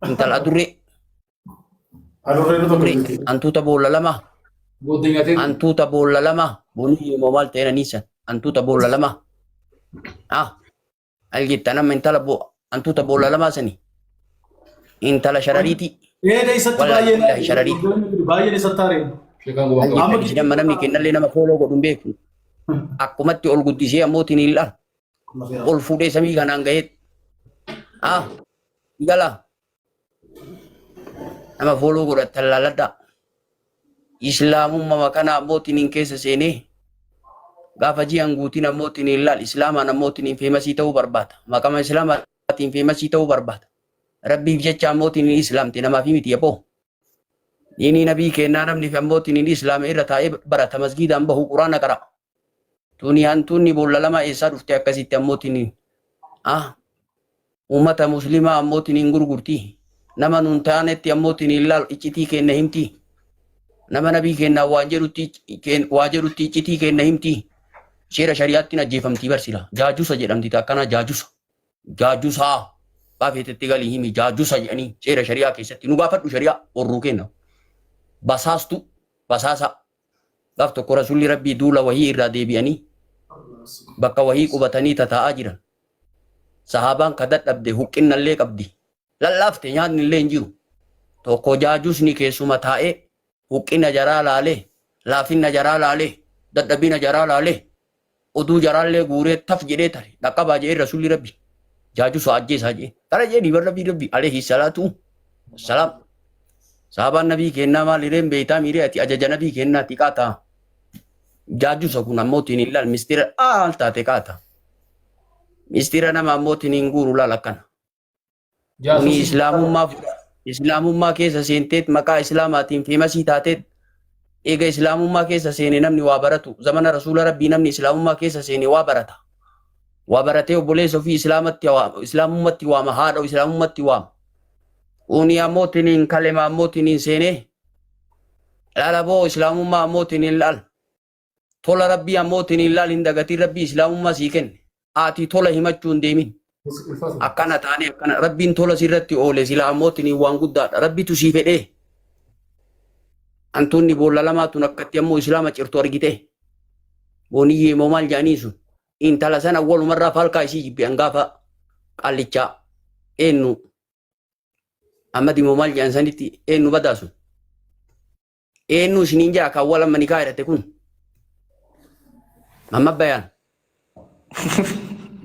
Intal adurree. Adurree nu tokko jirti. Antuuta boolla lama. Booddee nyaatee. Antuuta boolla lama. Boonii immoo maal ta'e naniisa. Antuuta boolla lama. Ah. Al jettan amma intala boo antuuta boolla lama sani. Intala sharariiti. Eeda isatti Wallahi, baay'een. wallahi, shararii. Baay'een isatti haaree. Sheekaan gubaa Amma qabu. Jedhan mana miikinnallee nama fooloo godhu hin beeku. Akkumatti ol guddisee ammoo tiniil'aan. ol fuudhee samii kanaan gaheet haa gala nama fooloo godhattan laaladhaa islaamummaa kana ammoo tiniin keessa seenee gaafa ji'an guutiin ammoo tiniin laal islaamaan ammoo tiniin feemasii ta'uu barbaada maqama islaamaatiin feemasii ta'uu barbaada rabbiif jecha ammoo tiniin islaamte namaaf miti yaboo Diinii nabii keennaa namni fi ammoo tiniin islaama irra taa'ee barata masgiidaan bahu quraana qara. Tuni hantuunni boolla lama eessaa dhufte akkasitti ammoo tiniin. Ah uummata muslimaa ammoo tiniin gurgurti. Nama nuun taanetti ammoo tiniin laal iccitii keenna himti. Nama nabii keennaa waan jedhutti keen- waa jedhutti iccitii keenna himti. Seera shari'aattiin ajjeefamtii barsila. Jaajusa jedhamti ta akkanaa jaajusa. jaajusaa baa feetetti galii himi jaajusa jedhanii seera shari'aa keessatti nu gaafadhu shari'aa warruu kenna basaastu basaasa gaaf tokko rasulli rabbii duula wahii irraa deebi'anii bakka wahii qubatanii tataa'aa jiran sahaabaan ka dadhabde huqqinnallee qabdi lallaafte nyaatnillee hin jiru tokko jaajusni keessuma taa'ee Huqqina jaraa laalee, laafinna jaraa laalee, dadhabina jaraa laalee, oduu jaraallee guuree taf jedhee tare dhaqqabaa jedhee Rasuulli Rabbi jaajusa ajjeesaa jedhee. Kana jedhee dhiiban Rabbii Rabbi aleehi salaatu wassalaam. Saabaan Nabii keennaa maal hireen beeytaa miiree ati ajaja Nabii keennaa ti qaata. Jaajusa kun ammootiin hin laal mistira aal taate qaata. Mistira nama ammootiin hin guuru laal akkana. Kuni Jaasuusii islaamummaa fudha. Islaamummaa keessa seenteet maqaa islaamaatiin feemasii taateet eega islaamummaa keessa seene namni waa baratu. Zamana rasuula rabbii namni islaamummaa keessa seene waa barata. Waa baratee obboleessa ofii islaamatti waama. Islaamummatti waama. Haadha islaamummatti waama. Kuni ammoo tiniin kalema ammoo tiniin seenee. Laala boo islaamummaa ammoo tiniin laal. Tola Rabbii ammoo tiniin laal hin dagatiin Rabbii Islaamummaa sii kenne. Aatii tola himachuu hin deemin. Akkana taane akkana Rabbiin tola sirratti oole sila ammoo tiniin waan guddaadha. Rabbitu sii fedhee. Antuunni boolla lamaa tun akkatti ammoo Islaama cirtu argitee. Booniyyee moo maal jedhanii sun. Intala sana walumarraa falkaa isii jibbi angaafa qaallichaa. Eennu. Ammadi moo maal jedhan sanitti eennu badaa sun. Eenyu isiniin jaa kan wal amma nikaa hidhate kun? Amma bayaan.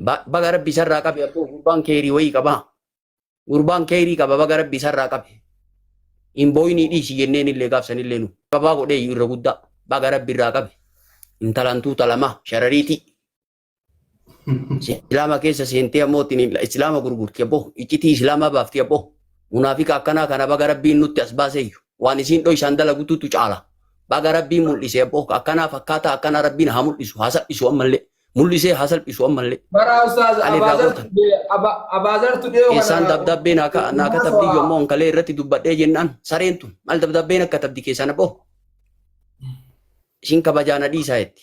Ba- Baga rabbi isarraa qabe abboo gurbaan keerii wayii qabaa. Gurbaan keerii qaba baga rabbi isarraa qabe. Hin booyinii dhiisi jenneen illee gaafsan illee nu. Qabaa godhee irra guddaa baga rabbi irraa qabe. Intalantuu talamaa sharariitii. Islaama keessa seentee ammoo ittiin islaama gurgurti abboo iccitii islaamaa baafti abboo munaafika akkanaa kana baga rabbiin nutti as baaseeyyu waan isiin dhoysaan dalagututu caala baga rabbiin mul'ise abboo akkanaa fakkaataa akkanaa rabbiin haa mul'isu haa salphisu ammallee mul'isee haa salphisu ammallee Bara ustaaz Hali irraa Abaazar gootan. Tudee Aba- Abaazar Tudee kana keessaan dabdabbee naa ka- naa katabdi Haasawaa. yommuu onkalee irratti dubbadhee jennaan sareen tun maal dabdabbeen akka tabdi keessaan abboo isin kabajaana dhiisaa jetti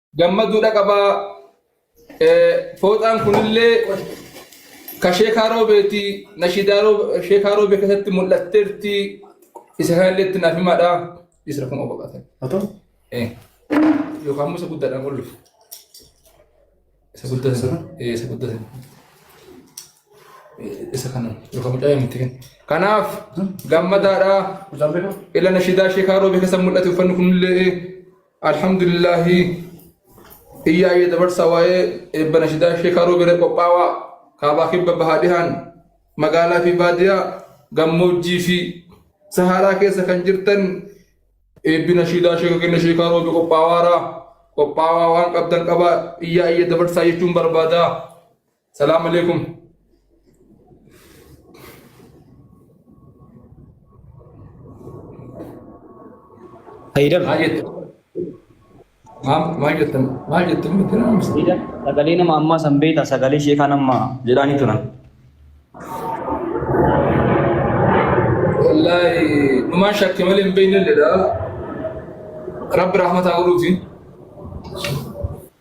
gammaduu dhaqabaa fooxaan kunillee ka sheekaa roobeeti nashiidaa sheekaa roobee keessatti mul'atteerti isa kanallee itti naaf himaadha isra kun obaqatan Atoo? yookaan immoo isa guddaadhaan ol dhufu isa guddatan Isa kana? Eh, isa guddatan Eh, isa kana yookaan mucaa miti kan kanaaf gammadaadha Kutaan beekaa? ila nashiidaa sheekaa roobee keessa mul'ate uffanni kunillee Alhamdulillahi iyyaa iyya dabarsa waa'ee eebba nashidaa sheekaa roobiree qophaawaa kaabaa kibba bahaa dhihaan magaalaa fi baadiyaa gammoojjii fi sahaaraa keessa kan jirtan eebbi nashidaa sheeka kenna sheekaa roobi qophaawaara qophaawaa waan qabdan qabaa iyyaa iyya dabarsaa jechuun barbaadaa. Salaam alaikum. Haydar. Maal jettu? Maal maal jettu? Maal jettu? Miti nama misa. Haydar sagalee nama ammaa san beektaa sagalee ishee kan ammaa jedhaanii turan. Wallaahi dhumaan shakke malee hin beekne illee dha. Rabbi rahmataa godhuuti.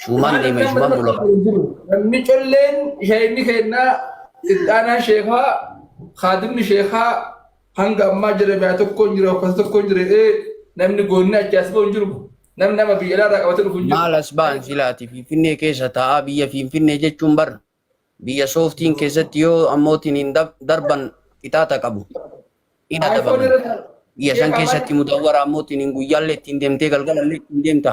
Shuumaan deeme shuumaan bula. Namni colleen sheekni keenna ixaanaan sheekaa kaadimni sheekaa hanga ammaa jedhame haa tokkoon jira uffata tokkoon jira ee namni goonni achi as ba'u jiru namni nama biyya alaarraa qabate dhufu jiru. Maal as ba'an silaati Finfinnee keessa taa'aa biyya Finfinnee jechuun bar biyya sooftiin keessatti yoo ammootiin hin darban qixaaxa qabu. Hin adabaman. Biyya san keessatti mudawwara ammootiin hin guyyaallee ittiin deemtee galgalallee ittiin deemta.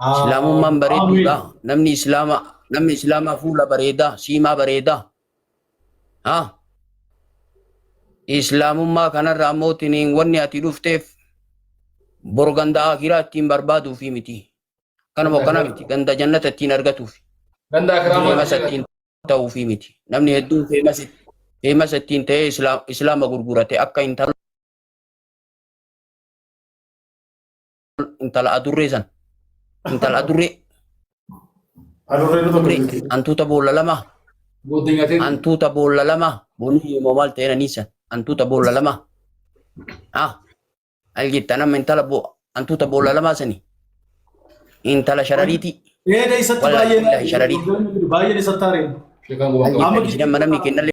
Islaamummaan bareedduudha. Namni Islaama namni Islaamaa fuula bareedaa, siimaa bareedaa. Ha? Islaamummaa kanarra ammoo tiniin wanni ati dhufteef bor ganda akiraa ittiin barbaaduu fi miti. Kanuma kana miti ganda jannata ittiin argatuuf. Ganda akiraa maal Feemasa ittiin ta'uu fi miti. Namni hedduun feemasa feemasa ittiin ta'ee islaama gurgurate akka intala intala adurree san intala adurree Adurree nu tokko jirti. hantuuta boolla lama Booddee nyaatee. hantuuta boolla lama bonii yooma maal ta'een aniisa hantuuta boolla lama ah al jetta nama intala boo hantuuta boolla lama sani intala sharariiti Ee keessatti Wal- baay'ee wal- shararii. baay'een isatti haareen. Sheekaan gubaan al qaba. jetta jidhan manamni kennalle